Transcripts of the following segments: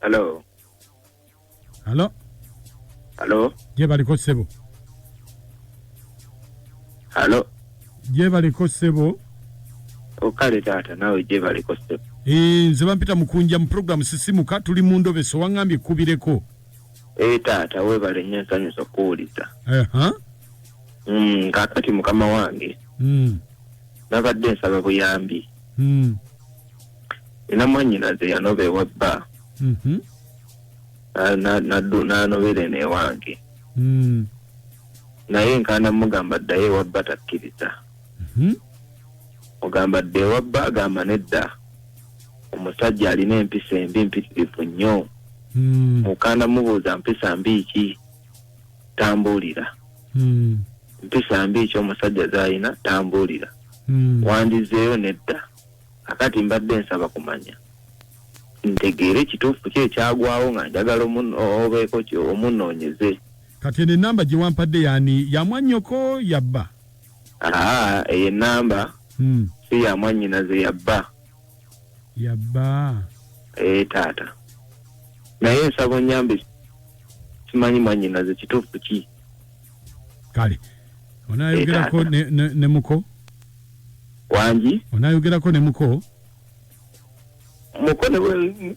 Hello. Hello. Hello. Gye baliko ssebo. Hello. gyebaleko ssebo okale taata naawe gyebaleko ssebo eh, nze bampita mukunja mu puroguramu sisimuka tuli mu ndobeso waŋŋambye kubireko ee eh, taata weebale nnyo ensanyusa okuwuliza mm, kaakati mukama wange mm. nabadde nsaba buyambi mm. ina mwanyinaze yanoba ewa bba mm-hmm. nanobera eno ewange naye nkaana mugamba ddayo ewabba takkiriza mhm. ogamba dda ewabba agamba nedda omusajja alina empisa embi mpitirivu nnyo hmm. mukaana mubuuza mpisa mbi ki tambuulira hmm. mpisa mbi ki omusajja zalina tambuulira hmm. wandizeeyo nedda akati mbadde nsaba kumanya ntegeere ekituufu ki ekyagwawo nga njagala obeeko omunoonyeze Kati eno enamba gyewampadde yani yamwanyoko yabba? Aa eyo enamba hmm. si yamwanyinaze yabba. Yabba ee eh, taata naye nsaba onyambe simanyi mwanyinaze kituufu ki? Kale onayogerako eh, ne, ne, ne muko wangi onayogerako ne muko muko ne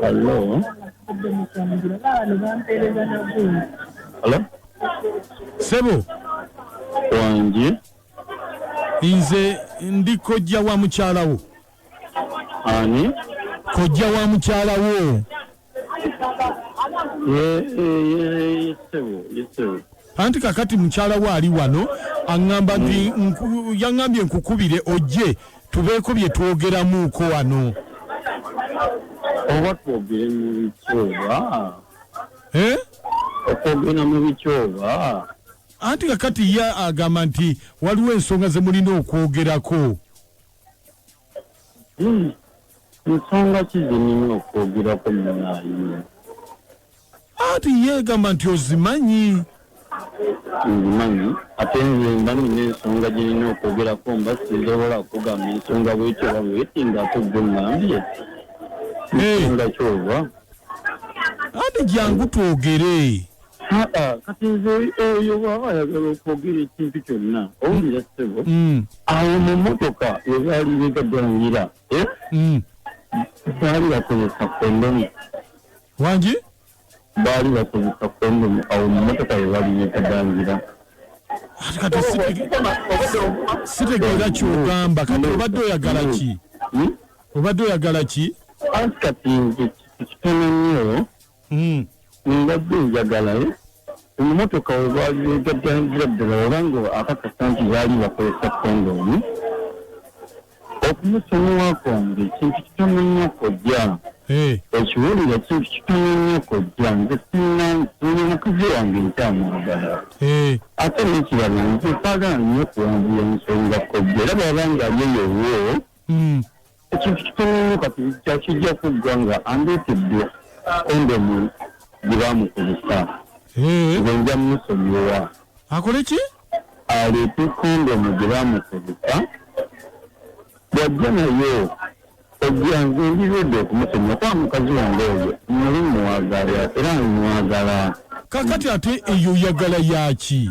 Hello. Hello. Sebo. Wangi. Nze ndi kojja wa mukyalawo. Ani? Kojja wa mukyalawo. anti kakati mukyala we ali wano aŋŋamba nti nku- yaŋŋambye nkukubire ojje tubeeko bye twogeramuuko wano oba twogere mu bikyoba Eh? okwogera mu bikyoba anti kakati ye agamba nti waliwo ensonga ze mulina okwogerako Hmm. nsonga ki zenina okwogerako munaayi anti yeegamba nti ozimanyi nzimanyi ate nze mba nina ensonga gye nina okwogerako mba sizobola kugamba ensonga bwekyo oba bweti ngaate gwe ŋambye ensonga kyova anti jangu twogere haa kati nze eyo bwaba ayagala okwogera ekintu kyonna owulira ssebo mm. awo mu motoka webaali begaganira eh? mm. baali bakozesa kondomu wangi baali bakozesa kondomu awo mu motoka webaali begaganira kati sitegeera kyogamba kati obadde oyagala ki hmm? obadde oyagala ki kati nze kitono nnyo hmm. mbadde njagala eh? emotoka webagatandikira ddala oba nga akakasa nti baali bakozesa kondomu okumusonyiwa kwange ekintu kitono nnyo kojja ekiwulira kintu kitono nnyo kojja nze sina nyo mukazi wange nkyamwagala ate nekirala nze saagala nnyo okuwanvuya nsonga kojja era bwaba nga alyeyowo mm. ekintu kitono nnyo kati kyakijja kuggwa nga andeetedde kondomu gye baamukozesa eh. nze nja musonyiwa akole ki aleete kondomu gye baamukozesa bwajja naye ojja nze ndiredde okumusonyiwa kuba mukazi wange oyo muli muwagala era mwagala kakati ate eyo oyagala yaki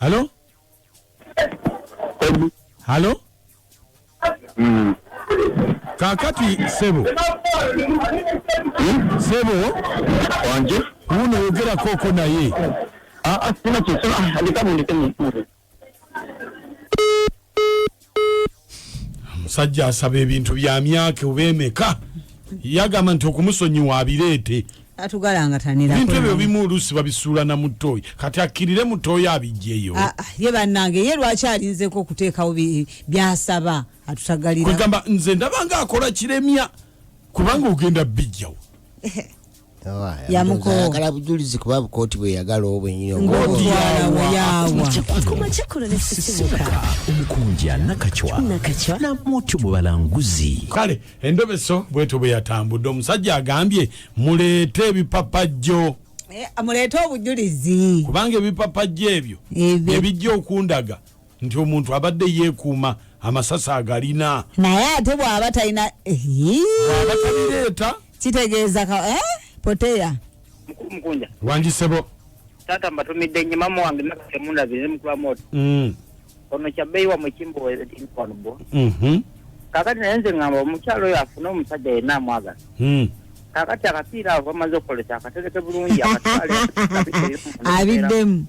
halo halo mm. kakati sebo hmm? sebo wanje uno yogera koko naye ah, ah, sina kyesoma ah, alikamu ndikemu omusajja asaba ebintu bya myaka oba emeka yagamba nti okumusonyiwa abireete ebintu ebyo bimu oluusi babisuula na mutoyi kati akkirire mutoyi abijjeyo ah, ah, ye bannange ye lwaki alinzeko okuteekawo byasaba atutagalirakwegamba nze ndabanga akola kiremya kubanga ogenda bijjawo yamukooyagala bujulizi kuba bukooti bweyagala obwenyinyongomukunja nakacwa namutu mubalanguzi kale endobeso bwetu bweyatambudde omusajja agambye muleete ebipapajjo eh, muleete obujulizi kubanga ebipapajjo ebyo ebijja okundaga nti omuntu abadde yeekuuma amasasi agalina naye ate bw'aba talina bw'aba tabireeta kitegeeza eh? poteya mukulu mukunja wangisebo taata mbatumidde nnyo maama wange nakasemundabire mukula moto mm. ono kyabbeyi wamwe kimbowanbo mhm. kakati naye nze ngamba omukyalo oyo afune omusajja yenna amwagala mm. kakati akapiira avo amaze okukolesa akatereke bulungi akatwale abiddemu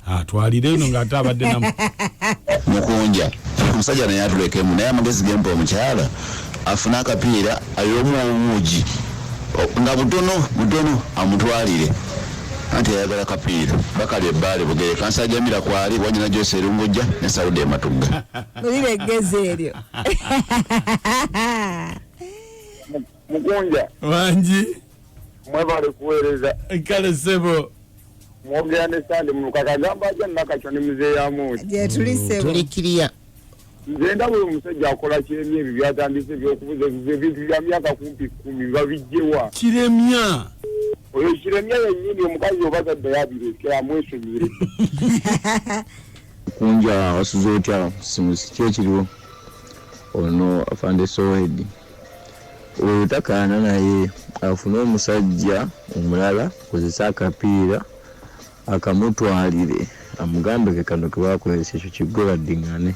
atwalire eno ng'ate abadde namu mukunja omusajja naye atulekemu naye amagezi gempa omukyala afune akapiira ayomu obuugi nga butono butono amutwalire anti ayagala kapiira bakali ebbaale bugere kansajamira kwali wanyina gyose erungujja ne sauda ematugga olira eggezi eryo mukunja wangi mwebale kuweereza kale sebo mwogera ne sande munuka kagamba aja nakakyo ne muzeeyi amuuti gyetuli sebo tuli kiriya nze ndaba oyo omusajja akola kiremya ebyo byatandise ebyokubuza ebintu bya myaka kumpi kumi babijjewa kiremya oyo kiremya yennyini omukazi oba taddayo abirekera amwesonyire kunja wasuze otya simusi ki ekiriwo ono afande sowedi Oyo takaana naye afune omusajja omulala akozese akapiira akamutwalire amugambe ke kano kebakozesa ekyo kiggwe baddingane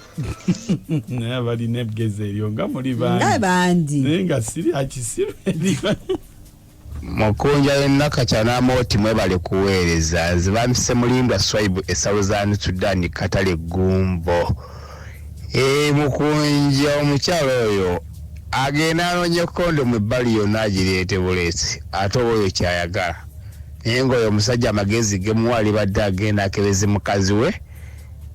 naye abalina eggezi eryo nga muli bangi naye nga siri akisiru Mukunja ne Nakakya n'Amooti mwebale kuweereza. Nze bampise Mulindwa Swaibu e Southern Sudan Katale Gumbo. Eeh Mukunja omukyala oyo agenda anoonye kondomu ebbali yonna agireete buleesi ate oba oyo kyayagala. Naye ng'oyo omusajja amagezi ge muwa alibadde agenda akebeze mukazi we.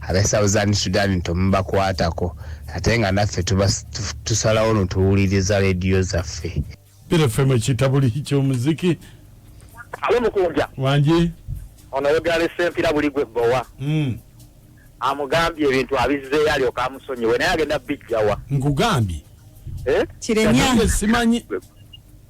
abe southern sudan temubakwatako ate nga naffe tusalawo notuwuliriza lediyo zaffe bira ffe mwekitabuli kyomuziki alo mukunja wangi ono yogera sempira buli gwe bowa mm. amugambye ebintu abizzeyo alyoka amusonyiwe naye agenda bijjawa nkugambye eh? kiremya simanyi